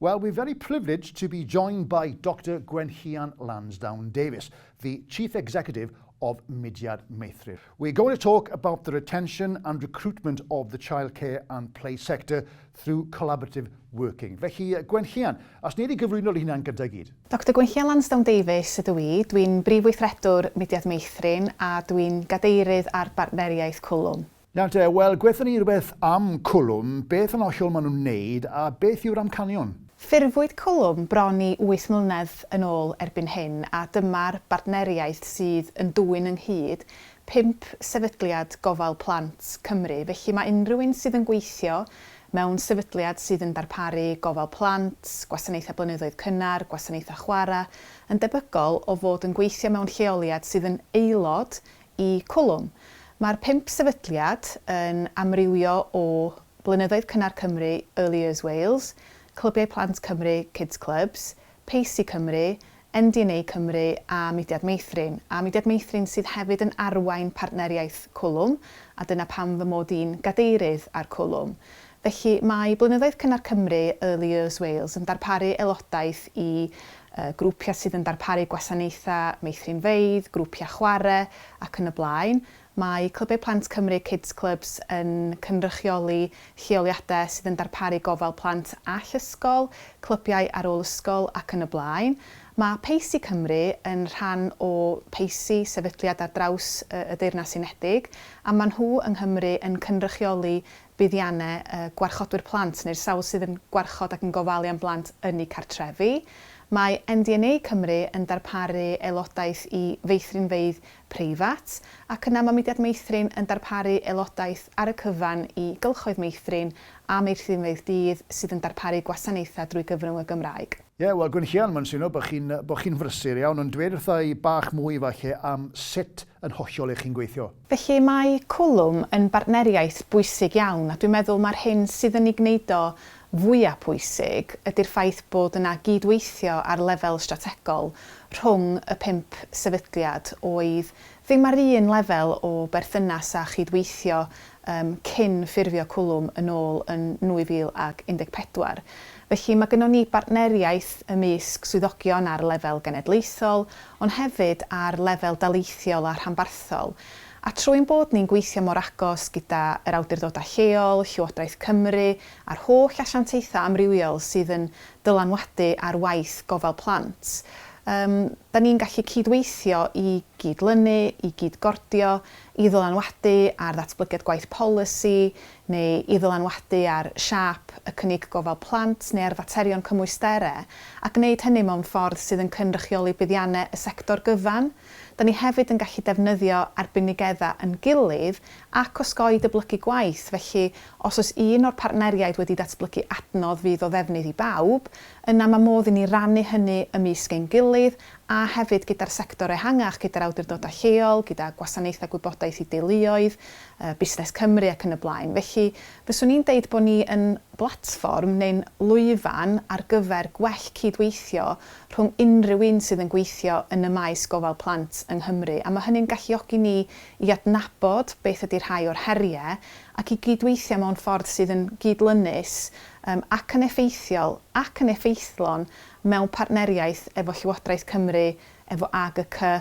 Well we're very privileged to be joined by Doctor Gwenllian Lansdowne Davies, the Chief Executive of Mudiad Meithrin. We're going to talk about the retention and recruitment of the childcare and play sector through collaborative working. Felly, Gwenllian, as ni wedi gyflwyno'r hunan gyda gyd. Doctor Gwenllian Lansdowne Davies ydw i, dwi'n Brif Weithredwr Mudiad Meithrin a dwi'n Gadeirydd ar Bartneriaeth Cwlwm. Na te, wel gwethon ni rywbeth am Cwlwm, beth yn ollol maen nhw'n wneud a beth yw'r amcanion? Ffurfwyd Cwlwm bron i wyth mlynedd yn ôl erbyn hyn a dyma'r bartneriaeth sydd yn dwyn ynghyd pump sefydliad gofal plant Cymru, felly mae unrhyw un sydd yn gweithio mewn sefydliad sydd yn darparu gofal plant, gwasanaethau blynyddoedd cynnar, gwasanaethau chwarae, yn debygol o fod yn gweithio mewn lleoliad sydd yn aelod i Cwlwm. Mae'r pump sefydliad yn amrywio o Blynyddoedd Cynnar Cymru, Early Years Wales, Clybiau Plant Cymru, Kids Clubs, Pacy Cymru, NDNA Cymru a Mudiad Meithrin, a Mudiad Meithrin sydd hefyd yn arwain partneriaeth Cwlwm a dyna pam fy mod i'n gadeirydd ar Cwlwm. Felly, mae Blynyddoedd Cynnar Cymru, Early Years Wales, yn darparu aelodaeth i grwpiau sydd yn darparu gwasanaethau meithrinfeydd, grwpiau chwarae ac yn y blaen. Mae Clybiau Plant Cymru, Kids Clubs, yn cynrychioli lleoliadau sydd yn darparu gofal plant all ysgol, clybiau ar ôl ysgol ac yn y blaen. Mae PACEY Cymru yn rhan o PACEY, sefydliad ar draws y Deyrnas Unedig, a maen nhw yng Nghymru yn cynrychioli buddiannau y gwarchodwyr plant neu'r sawl sydd yn gwarchod ac yn gofalu am blant ynni cartrefi. Mae MDNA Cymru yn darparu aelodaeth i feithrinfeydd preifat, ac yna mae Mudiad Meithrin yn darparu aelodaeth ar y cyfan i gylchoedd meithrin a meithrinfeydd dydd sydd yn darparu gwasanaethau drwy gyfrwng y Gymraeg. Ie, wel, Gwynllian, mae'n swnio bod chi'n bod chi'n frysur iawn, ond dweud wrtha i bach mwy falle am sut yn hollol lle chi'n gweithio. Felly mae Cwlwm yn bartneriaeth bwysig iawn a dwi'n meddwl mae'r hyn sydd yn ei gwneud o fwya' pwysig ydy'r ffaith bod yna gyd-weithio ar lefel strategol rhwng y pump sefydliad oedd ddim ar un lefel o berthynas a chyd-weithio yym cyn ffurfio Cwlwm yn ôl yn 2014. Felly mae gynnon ni bartneriaeth ymysg swyddogion ar lefel genedlaethol ond hefyd ar lefel daleithiol a rhanbarthol, a trwy ein bod ni'n gweithio mor agos gyda yr awdurdodau lleol, Llywodraeth Cymru a'r holl asiantaethau amrywiol sydd yn dylanwadu ar waith gofal plant, yym, 'da ni'n gallu cyd-weithio i gyd-lynu, i gyd-gordio, i ddylanwadu ar ddatblygiad gwaith polisi, neu i ddylanwadu ar siâp y cynnig gofal plant neu ar faterion cymwystere, a gwneud hynny mewn ffordd sydd yn cynrychioli buddiannau y sector gyfan. Da ni hefyd yn gallu defnyddio arbenigedda yn gilydd ac osgoi dyblygu gwaith, felly os oes un o'r partneriaid wedi datblygu adnodd fydd o ddefnydd i bawb, yna mae modd i ni rannu hynny ymysg ein gilydd a hefyd gyda'r sector ehangach, gyda'r awdurdodau lleol, gyda gwasanaethau gwybodaeth i deuluoedd, Busnes Cymru ac yn y blaen. Felly, fyswn i'n deud bod ni yn blatfform neu'n lwyfan ar gyfer gwell cyd-weithio rhwng unrhyw un sydd yn gweithio yn y maes gofal plant yng Nghymru, a mae hynny'n galluogi ni i adnabod beth ydy rhai o'r heriau ac i gyd-weithio mewn ffordd sydd yn gyd-lynus ac yn effeithiol ac yn effeithlon mewn partneriaeth efo Llywodraeth Cymru, efo AGCY,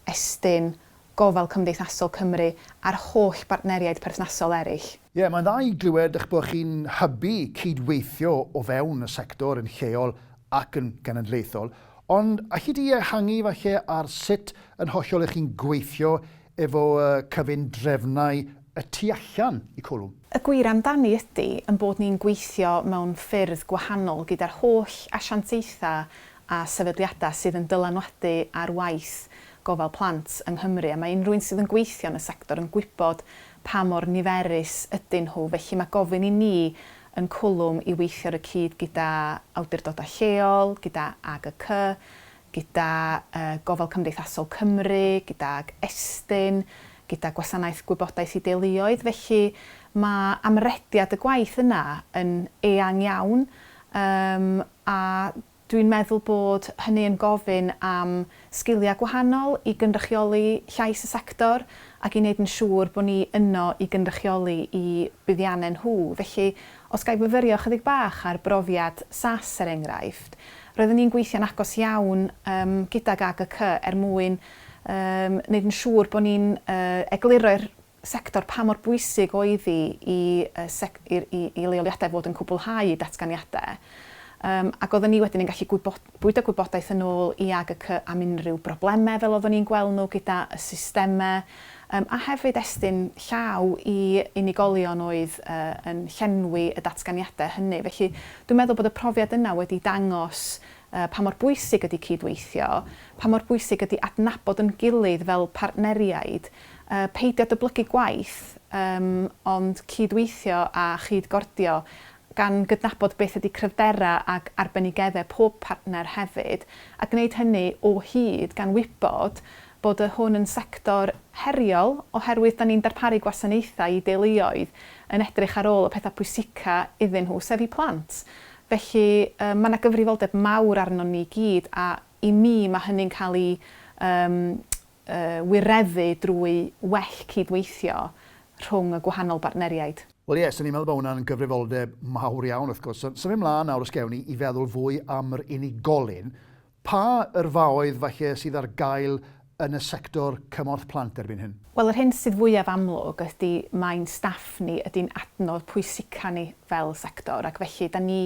Estyn, gofal cymdeithasol Cymru a'r holl bartneriaid perthnasol eraill. Ie, mae'n dda i glywed eich bod chi'n hybu cyd-weithio o fewn y sector yn lleol ac yn genedlaethol, ond alli di ehangu falle ar sut yn hollol y'ch chi'n gweithio efo y cyfundrefnau y tu allan i Cwlwm? Y gwir amdani ydi ein bod ni'n gweithio mewn ffyrdd gwahanol gyda'r holl asiantaethau a sefydliadau sydd yn dylanwadu ar waith gofal plant yng Nghymru a mae unrhyw un sydd yn gweithio yn y sector yn gwybod pa mor niferus ydyn nhw, felly mae gofyn i ni yn Cwlwm i weithio ar y cyd gyda awdurdodau lleol, gyda AGC, gyda Gofal Cymdeithasol Cymru, gydag Estyn, gyda Gwasanaeth Gwybodaeth i Deuluoedd, felly mae amrediad y gwaith yna yn eang iawn a Dwi'n meddwl bod hynny yn gofyn am sgiliau gwahanol i gynrychioli llais y sector ac i wneud yn siŵr bod ni yno i gynrychioli i buddiannau nhw. Felly, os ga i fyfyrio ychydig bach ar brofiad SaaS er enghraifft, roeddwn ni'n gweithio'n agos iawn yym gydag AGCY er mwyn yym wneud yn siŵr bod ni'n yy egluro'r sector, pa mor bwysig oedd hi i leoliadau fod yn cwblhau eu datganiadau, ac oeddwn ni wedyn yn gallu bwydo gwybodaeth yn ôl i AGC am unrhyw broblemau fel oeddwn ni'n gweld nhw gyda y systemau, a hefyd estyn llaw i unigolion oedd yn llenwi y datganiadau hynny. Felly, dwi'n meddwl bod y profiad yna wedi dangos pa mor bwysig ydy cyd-weithio, pa mor bwysig ydy adnabod yn gilydd fel partneriaid, Peidio dyblygu gwaith, ond cyd-weithio a chyd-gordio, gan gydnabod beth ydy cryfderau ac arbenigeddau pob partner hefyd, a gwneud hynny o hyd, gan wybod bod y hwn yn sector heriol, oherwydd da ni'n darparu gwasanaethau i deuluoedd yn edrych ar ôl y pethau pwysica iddyn nhw, sef eu plant. Felly, mae yna gyfrifoldeb mawr arnon ni gyd, a i mi mae hynny'n cael ei wireddu drwy well cyd-weithio rhwng y gwahanol bartneriaid. Wel ie, 'swn i'n meddwl bod hwnna'n gyfrifoldeb mawr iawn wrth gwrs. Symud 'mlaen nawr os gewn ni i feddwl fwy am yr unigolyn, pa yrfaoedd falle sydd ar gael yn y sector cymorth plant erbyn hyn? Wel yr hyn sydd fwyaf amlwg ydi mae'n staff ni ydi'n adnodd pwysica ni fel sector ac felly 'da ni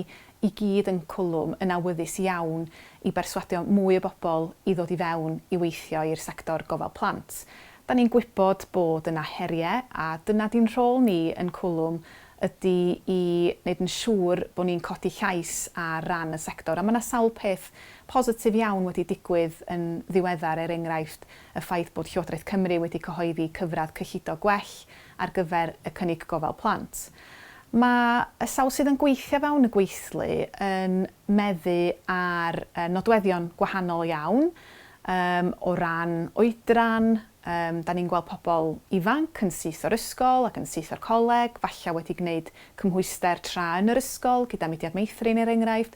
i gyd yn cwlwm yn awyddus iawn i berswadio mwy o bobl i ddod i fewn i weithio i'r sector gofal plant. Da ni'n gwybod bod yna heriau a dyna di'n rhôl ni yn cwlwm ydy i wneud yn siŵr bod ni'n codi llais ar ran y sector a mae yna sawl peth positif iawn wedi digwydd yn ddiweddar er enghraifft y ffaith bod Llywodraeth Cymru wedi cyhoeddi cyfradd cyllido gwell ar gyfer y cynnig gofal plant. Mae y sawl sydd yn gweithio fewn y gweithlu yn meddu ar nodweddion gwahanol iawn yym o ran oedran, yym 'dan ni'n gweld pobl ifanc yn syth o'r ysgol ac yn syth o'r coleg, falle wedi gwneud cymhwyster tra yn yr ysgol gyda Mudiad Meithrin er enghraifft,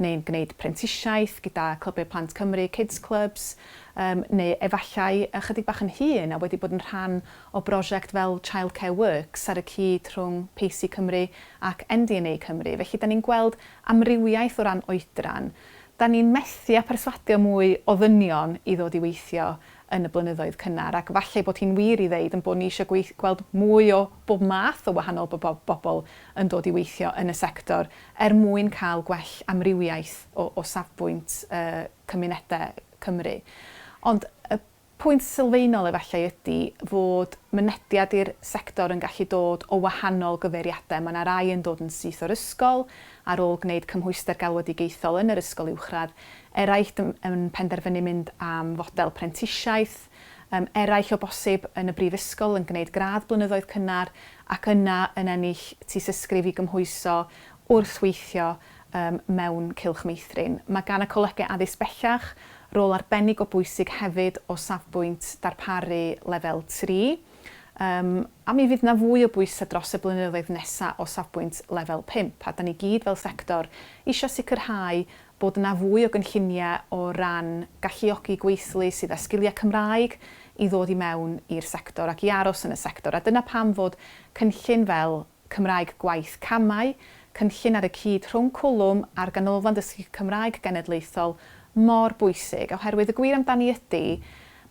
neu'n gwneud prentisiaeth gyda Clybiau Plant Cymru, Kids Clubs, yym neu efallai ychydig bach yn hŷn a wedi bod yn rhan o brosiect fel Childcare Works ar y cyd rhwng Pacy Cymru ac NDNA Cymru. Felly, da ni'n gweld amrywiaeth o ran oedran. Da ni'n methu â perswadio mwy o ddynion i ddod i weithio yn y blynyddoedd cynnar, ac falle ei bod hi'n wir i ddeud ein bod ni eisiau gweith-, gweld mwy o bob math o wahanol bobo-, bobl yn dod i weithio yn y sector, er mwyn cael gwell amrywiaeth o, o safbwynt yy cymunedau Cymru. Ond y Pwynt sylfaenol efallai ydy fod mynediad i'r sector yn gallu dod o wahanol gyfeiriadau. Mae yna rai yn dod yn syth o'r ysgol, ar ôl gwneud cymhwyster galwedigaethol yn yr ysgol uwchradd, eraill yn penderfynu mynd am fodel prentisiaeth, eraill o bosib yn y brifysgol yn gwneud gradd blynyddoedd cynnar ac yna yn ennill tŷsysgrif i gymhwyso wrth weithio ym mewn cylch meithrin. Mae gan y Colegau Addysg Bellach rôl arbennig o bwysig hefyd o safbwynt darparu Lefel Tri, ym, a mi fydd 'na fwy o bwysau dros y blynyddoedd nesaf o safbwynt Lefel Pump, a 'da ni gyd fel sector eisiau sicrhau bod 'na fwy o gynlluniau o ran galluogi gweithlu sydd â sgiliau Cymraeg i ddod i mewn i'r sector ac i aros yn y sector, a dyna pam fod cynllun fel Cymraeg Gwaith Camau, cynllun ar y cyd rhwng Cwlwm a'r Ganolfan Dysgu Cymraeg Genedlaethol, mor bwysig, oherwydd y gwir amdani ydy,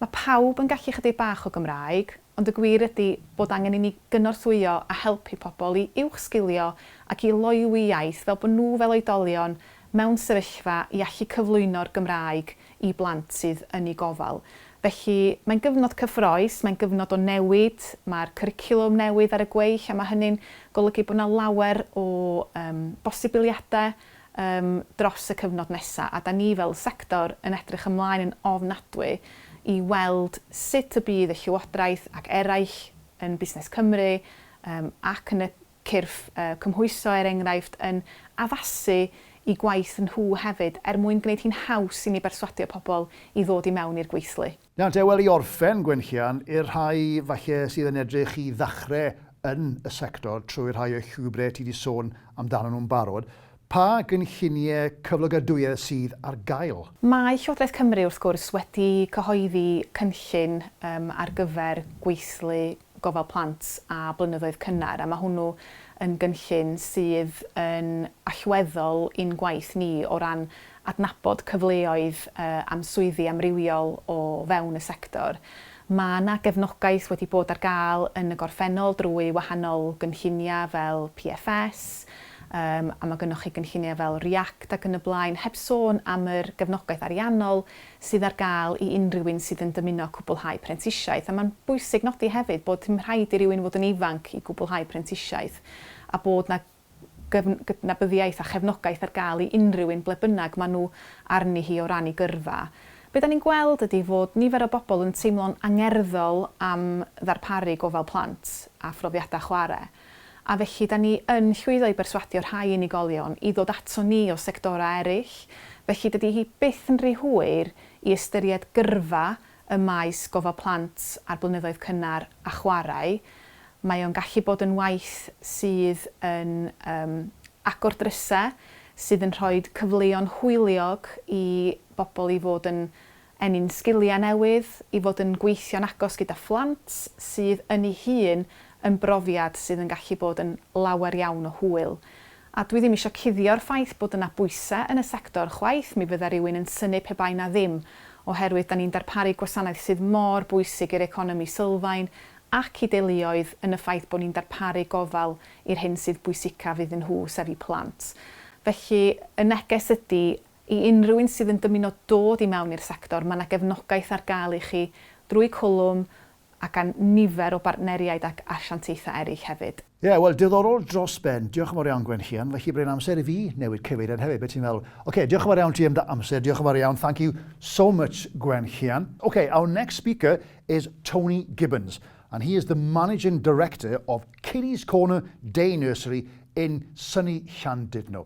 mae pawb yn gallu chydig bach o Gymraeg, ond y gwir ydy bod angen i ni gynorthwyo a helpu pobl i uwchsgilio ac i loywi iaith fel bod nhw fel oedolion mewn sefyllfa i allu cyflwyno'r Gymraeg i blant sydd yn eu gofal. Felly, mae'n gyfnod cyffroes, mae'n gyfnod o newid, mae'r cwricwlwm newydd ar y gweill a mae hynny'n golygu bod yna lawer o yym bosibiliadau yym dros y cyfnod nesaf a 'da ni fel sector yn edrych ymlaen yn ofnadwy i weld sut y bydd y Llywodraeth ac eraill yn Busnes Cymru yym ac yn y cyrff cymhwyso, er enghraifft, yn addasu i gwaith nhw hefyd, er mwyn gwneud hi'n haws i ni berswadio pobl i ddod i mewn i'r gweithlu. Nawr te, wel, i orffen, Gwenllian, i'r rhai falle sydd yn edrych i ddechrau yn y sector trwy rhai o'r llwybrau ti 'di sôn amdanyn nhw'n barod, pa gynlluniau cyflogadwyedd sydd ar gael? Mae Llywodraeth Cymru, wrth gwrs, wedi cyhoeddi cynllun ar gyfer gweithlu gofal plant a blynyddoedd cynnar, a mae hwnnw yn gynllun sydd yn allweddol i'n gwaith ni o ran adnabod cyfleoedd am swyddi amrywiol o fewn y sector. Mae yna gefnogaeth wedi bod ar gael yn y gorffennol drwy wahanol gynlluniau fel PFS, a mae gynnoch chi gynlluniau fel REACT ac yn y blaen, heb sôn am yr gefnogaeth ariannol sydd ar gael i unrhyw un sydd yn dymuno cwblhau prentisiaeth, a mae'n bwysig nodi hefyd bod dim rhaid i rywun fod yn ifanc i gwblhau prentisiaeth, a bod 'na gydnabyddiaeth a chefnogaeth ar gael i unrhyw un ble bynnag maen nhw arni hi o ran eu gyrfa. Be dan ni'n gweld ydi fod nifer o bobl yn teimlo'n angerddol am ddarparu gofal plant a phrofiadau chwarae. A felly, 'da ni yn llwyddo i berswadio rhai unigolion i ddod aton ni o sectorau eraill, felly dydy hi byth yn rhy hwyr i ystyried gyrfa ym maes gofal plant a'r blynyddoedd cynnar a chwarae. Mae o'n gallu bod yn waith sydd yn yym agor drysau, sydd yn rhoi cyfleon hwyliog i bobl i fod yn Ennyn sgiliau newydd i fod yn gweithio'n agos gyda phlant sydd yn ei hun yn brofiad sydd yn gallu bod yn lawer iawn o hwyl. A dwi ddim isio cuddio'r ffaith bod yna bwysau yn y sector chwaith, mi fydda rywun yn synnu pe bai 'na ddim, oherwydd 'da ni'n darparu gwasanaeth sydd mor bwysig i'r economi sylfaen ac i deuluoedd yn y ffaith bod ni'n darparu gofal i'r hyn sydd bwysicaf iddyn nhw, sef eu plant. Felly, y neges ydy, I unrhyw un sydd yn dymuno dod i mewn i'r sector, mae 'na gefnogaeth ar gael i chi drwy Cwlwm a gan nifer o bartneriaid ac asiantaethau eraill hefyd. Ie, wel, diddorol dros ben. Diolch yn fawr iawn, Gwenllian. Felly, bod e'n amser i fi newid cyfeiriad hefyd, be ti'n feddwl? Ocê, diolch yn fawr iawn ti am dy amser. Diolch yn fawr iawn, thank you so much, Gwenllian. Ok, our next speaker is Tony Gibbons, and he is the Managing Director of Kiddies Corner Day Nursery in sunny Llandudno.